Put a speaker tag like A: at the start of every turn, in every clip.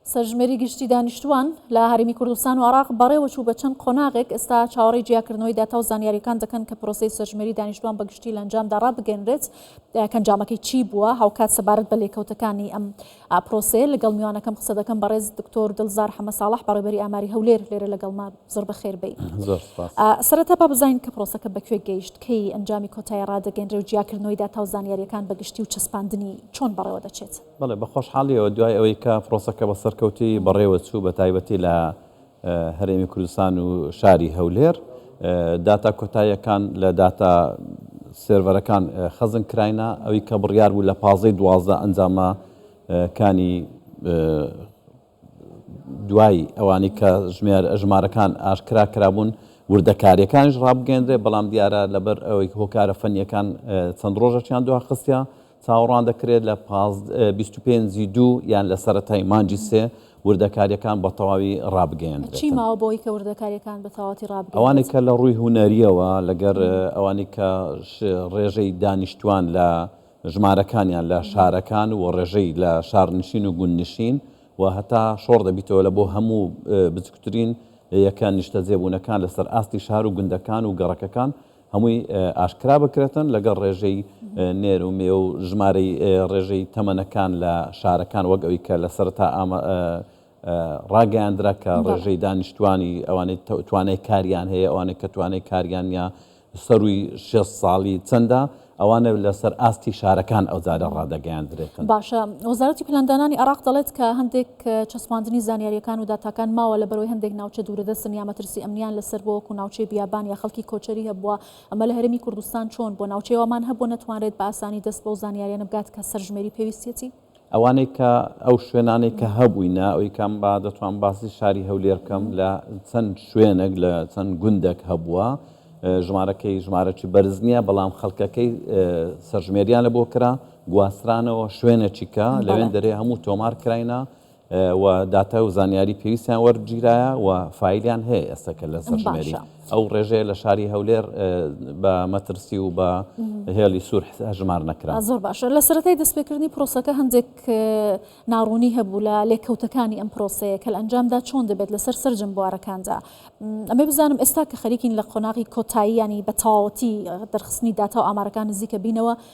A: سەرژمێری گشتی دانیشتوان لە هەرێمی کوردستان و عراق بەڕێوەچوو بە چەند قۆناغێک ئستا چاوەڕی جیاکردنەوەی داتا و زانیاریەکان دەکەن کە پرۆسی سەرژمێری دانیشتوان بەگشتی لەنجامدا ڕابگەنرێت کەنجامەکەی چی بووە هاوکات سەبارەت بە لێکەوتەکانی ئەم پرۆسەیە لەگەڵ میوانەکەم قسە دەکەم بەڕێز دکتۆر دڵزار حەمە ساڵح بەڕێبەری ئاماری هەولێر لێرە لەگەڵما زۆر بە خێر بی سەرەتا با بزانین کە پرۆسەکە بەکوێ گەیشت کەی ئەنجامی کۆتای ڕادەگەنرێ و جیاکردنەوەی داتا و زانیاریەکان بەگشتی و چەسپاندنی چۆن بەڕێوە دەچێت بەڵێ بە خۆشحاڵیەوە
B: دوای ئەوەی کە پرۆسەکە بە سەرکەوتی بەڕێوە چوو بە تایبەتی لە هەرێمی کوردستان و شاری هەولێر داتا کۆتاییەکان لە داتا سێرڤەرەکان خەزن کراینە ئەوی کە بڕیار بوو لە پازەی دوازدە ئەنجامە کانی دوای ئەوانی کە ژمارەکان ئاشکرا کرابوون، وردەکارییەکانیش ڕابگەیەندرێت، بەڵام دیارە لەبەر ئەوەی هۆکارە فەنییەکان چەند ڕۆژەکیان دوا خستیە، چاوەڕوان دەکرێت لە بیست و پێنج ی دوو یان لە سەرەتای مانگی سێ وردەکارییەکان بە تەواوی ڕابگەیەندرێتن.
A: ئەوانەی کە لە ڕووی
B: هونەرییەوە لەگەر ئەوانی کە ڕێژەی دانیشتووان لە. ژمارەکانیان لە شارەکان و ڕێژەی لە شارنشین و گوندنشین و هەتا شۆڕ دەبیتەوە لە بۆ هەموو بچکوترین یەکە نیشتەجێبوونەکان لەسەر ئاستی شار و گوندەکان و گەڕەکەکان هەمووی ئاشکرا بکرێتن لەگەڵ ڕێژەی نێر و مێ و ژمارەی ڕێژەی تەمەنەکان لە شارەکان وەک ئەوی کە لە سەرتا ئامە ڕاگەیاندرا کە ڕێژەی دانیشتووانی ئەوانەی توانای کاریان هەیە ئەوانەی کە توانای کاریان نیە سەرووی شێ ساڵی چەندە ئەوانە لەسەر ئاستی شارەکان ئەو زارە ڕادەگەیاندرێتن باشە وەزارەتی
A: پلاندانانی عراق دەڵێت کە هەندێک چەسپاندنی زانیاریەکان و داتاکان ماوە لە بەرەوەی هەندێک ناوچە دوورەدە سنیا مەترسی ئەمنیان لەسەر بۆوەکو ناوچەی بیابان یا خەڵکی کۆچەری هەبووە ئەمە لە هەرمی کوردستان چۆن بۆ ناوچەیەوەمان هەبوو نەتوانرێت بە ئاسانی دەست بەو زانیاریانە بگات کە سەرژمێری پێویستێتی ئەوانەی کە
B: ئەو شوێنانەی کە هەبووینە ئەوی کەم با دەتوان باسی شاری هەولێر بکەم لە چەند شوێنێک لە چەند گوندێک هەبووە ژمارەکەی ژمارەی بەرز نییە بەڵام خەڵکەکەی سەرژمێریان لە بۆ کرا گواسترانەوە شوێنێکی کە لەوێن دەرێ هەموو تۆمار کراینە و داتای و زانیاری پێویستیان وەرگیرایە و فایلیان هەیە ئێستا کە لە سەرژمێری ئەو ڕێژەیە لە شاری هەولێر بە مەترسی و بە هێڵی سوور هەژمار نەکرا زۆر باشە لە سەرەتای
A: دەستپێکردنی پرۆسەکە هەندێک ناڕوونی هەبوو لە لێکەوتەکانی ئەم پرۆسەیە کە ئەنجامدا چۆن دەبێت لەسەر سرجم بوارەکاندا ئەمە بزانم ئێستا کە خەریکین لە قۆناغی کۆتاییانی بە تەواوەتی دەرخستنی داتا و ئامارەکان نزیکە بینەوە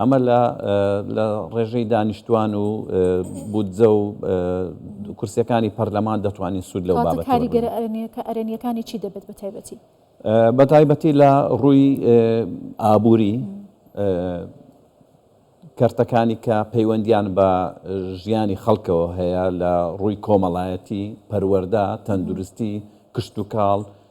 B: ئەمە لە لە ڕێژەی دانیشتوان و بودجە و کورسیەکانی پەرلەمان دەتوانین سوود لەو بابەتەوە ببینین. کاتە کاریگەرە
A: ئەرێنیەکانی چی دەبێت بە تایبەتی؟ بە تایبەتی
B: لە ڕووی ئابووری کەرتەکانی کە پەیوەندیان بە ژیانی خەڵکەوە هەیە لە ڕووی کۆمەڵایەتی، پەروەردە، تەندروستی، کشتوکاڵ،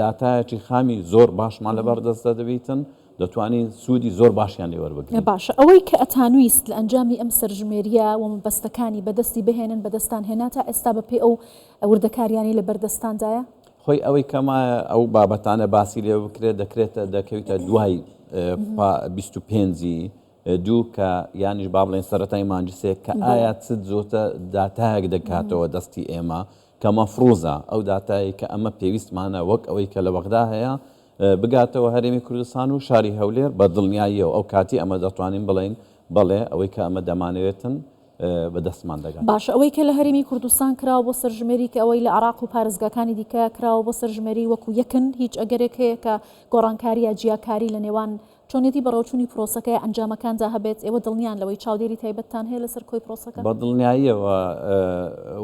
B: داتایەکی خامی زۆر باشمان لەبەر دەستدا دەبیتن، دەتوانین سوودی زۆر باشیان لێ وەربگرین. باشە ئەوەی کە
A: ئەتانویست لە ئەنجامی ئەم سەرژمێرییە و مەبەستەکانی بەدەستی بهێنن بەدەستتان هێنا تا ئێستا بەپێی ئەو وردەکارییانەی لەبەر دەستتاندایە؟ خۆی ئەوەی کە
B: مایە ئەو بابەتانە باسی لێ بکرێت دەکرێتە دەکەویتە دوای پا بیست و پێنجی دوو کە یانیش با بڵێن سەرەتای مانجسێک کە ئایا چ زۆتە داتایەک دەکاتەوە دەستی ئێمە کە مەفروزە ئەو داتایەی کە ئەمە پێویستمانە وەک ئەوەی کە لە بەغدا هەیە بگاتەوە هەرێمی کوردستان و شاری هەولێر بە دڵنیاییەوە ئەو کاتی ئەمە دەتوانین بڵێین بەڵێ ئەوەی کە ئەمە دەمانەوێتن بە دەستمان دەگات. باشە ئەوەی کە لە هەرێمی
A: کوردستان کراوە بۆ سەرژمێری کە ئەوەی لە عێراق و پارێزگاکانی دیکە کراوە بۆ سەرژمێری وەکو یەکن هیچ ئەگەرێک هەیە کە گۆڕانکاری یا جیاکاری لە نێوان چۆنیەتی بەڕێوەچوونی پرۆسەکە یا ئەنجامەکاندا هەبێت، ئێوە دڵنیان لەوەی چاودێری تایبەتتان هەیە لەسەر کۆی پرۆسەکە؟ بە دڵنیاییەوە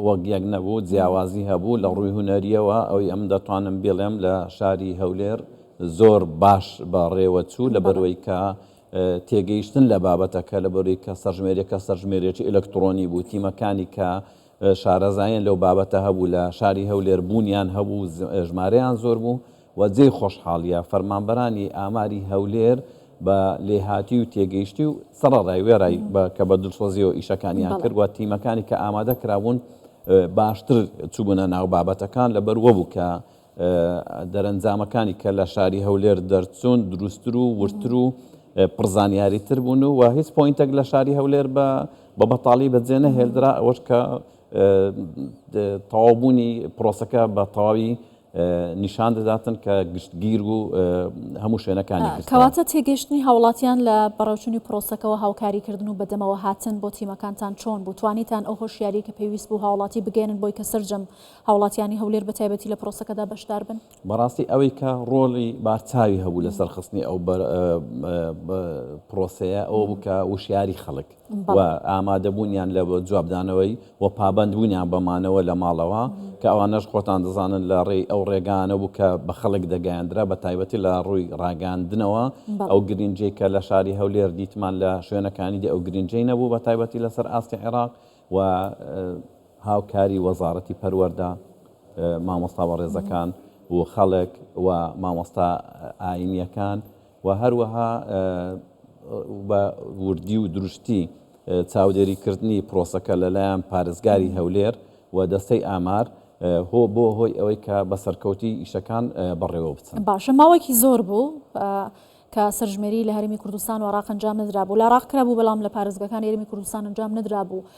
B: وەک یەک نەبوو، جیاوازی هەبوو، لە ڕووی هونەرییەوە ئەوەی ئەمن دەتوانم بیڵێم لە شاری هەولێر زۆر باش بەڕێوەچوو، لەبەرئەوەی کە تێگەیشتن لە بابەتەکە، لەبەرئەوەی کە سەرژمێریەکە سەرژمێریەکی ئەلەکتڕۆنی بوو، تیمەکانی کە شارەزاییان لەو بابەتە هەبوو لە شاری هەولێر بوونیان هەبوو، ژمارەیان زۆر بوو، و جێی خۆشحاڵیە فەرمانبەرانی ئاماری هەولێر بە لێهاتوی و تێگەیشتی و سەڕەرای وێڕای بە کە بە دڵسۆزیەوە ئیشەکانیان کرد و تیمەکانی کە ئامادە کرابوون باشتر چوبونە ناو بابەتەکان لەبەر وەبوو کە دەرەنجامەکانی کە لە شاری هەولێر دەرچوون دروستتر و وردتر و پڕ زانیاری تر بوون و و هیچ پۆینتێک لە شاری هەولێر بە بە بەتاڵی بەجێ نەهێلدرا ئەوەش کە تەواوبوونی پرۆسەکە بە تەواوی نیشان دەداتن کە گشتگیر و هەموو شوێنەکانی گرتووە. کەواتە تێگەیشتنی
A: هاوڵاتیان لە بەڕێوچوونی پرۆسەکەوە، هاوکاریکردن و بەدەمەوە هاتن بۆ تیمەکانتان چۆن بوو؟ توانیتان ئەو هۆشیارییەی کە پێویست بوو هاوڵاتی بگەیەنن بۆی کە سەرجەم هاوڵاتیانی هەولێر بە تایبەتی لە پرۆسەکەدا بەشدار بن؟ بەڕاستی ئەوەی کە
B: ڕۆڵی بارچاوی هەبوو لە سەرخستنی ئەو پرۆسەیە ئەوە بوو کە وشیاری خەڵک و ئامادەبوونیان لە جوابدانەوەی و پابەندبوونیان بە مانەوە لە ماڵەوە، کە ئەوانەش خۆتان دەزانن لە ڕێی ئەو ڕێگایانە بوو کە بە خەڵک دەگەیەندرا بە تایبەتی لە ڕووی ڕاگەیاندنەوە، ئەو گرینجەی کە لە شاری هەولێر دیتمان لە شوێنەکانی دی ئەو گرینجەی نەبوو بە تایبەتی لەسەر ئاستی عێراق و هاوکاری وەزاڕەتی پەروەردە، مامۆستا بەڕێزەکان و خەڵک و مامۆستا ئاینیەکان. و هەروەها بە وردی و دروشتی چاودێریکردنی پرۆسەکە لەلایەن پارێزگاری هەولێر و دەستەی ئامار هۆ بۆ هۆی ئەوەی کە بە سەرکەوتی ئیشەکان بەڕێوە بچن. باشە ماوەکی زۆر
A: بوو کە سەرژمێری لە هەرێمی کوردستان و عراق ئەنجام نەدرابوو، لە عراق کرابوو بەڵام لە پارێزگەکانی هەرێمی کوردستان ئەنجام نەدرابوو،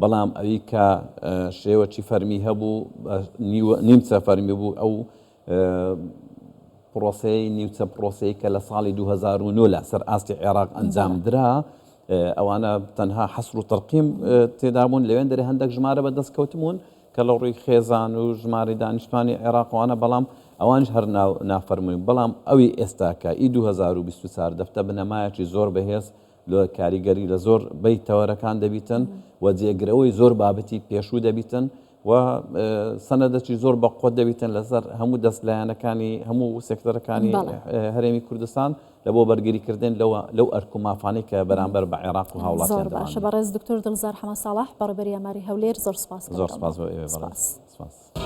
B: بەڵام ئەوی کە شێوەچی فەرمی هەبوو بە نیمچە فەرمی بوو ئەو پرۆسەی نیوچە پرۆسەی کە لە ساڵی 2009 لە سەر ئاستی عێراق ئەنجام درا ئەوانە تەنها حەسر و تەرقیم تێدابوون لەوێن دەرێ هەندێک ژمارە بە دەست کەوتمون کە لە ڕووی خێزان و ژماری دانیشتوانی عێراقوانە بەڵام ئەوانش هەر نافەرمووین بەڵام ئەوی ئێستاکە ئی 2024 دەفتە بنەمایەکی زۆر بەهێز لۆ کاریگەری لە زۆر بەی تەوەرەکان دەبیتن و جێگرەوەی زۆر بابەتی پێشوو دەبیتن و سەنەدەچی زۆر بە قۆت دەبیتن لەسەر هەموو دەست لایەنەکانی هەموو سێکتەرەکانی هەرێمی کوردستان لە بۆ بەرگریکردن لەوە لەو ئەرک و مافانەی کە بەرامبەر بە عێراق و هاوڵات زۆر باشە بە ڕێز دکتۆر دڵزار
A: حەمە ساڵح بەڕێبەری ئەماری هەولێر زۆر
B: سپاس
A: زۆر سپاس.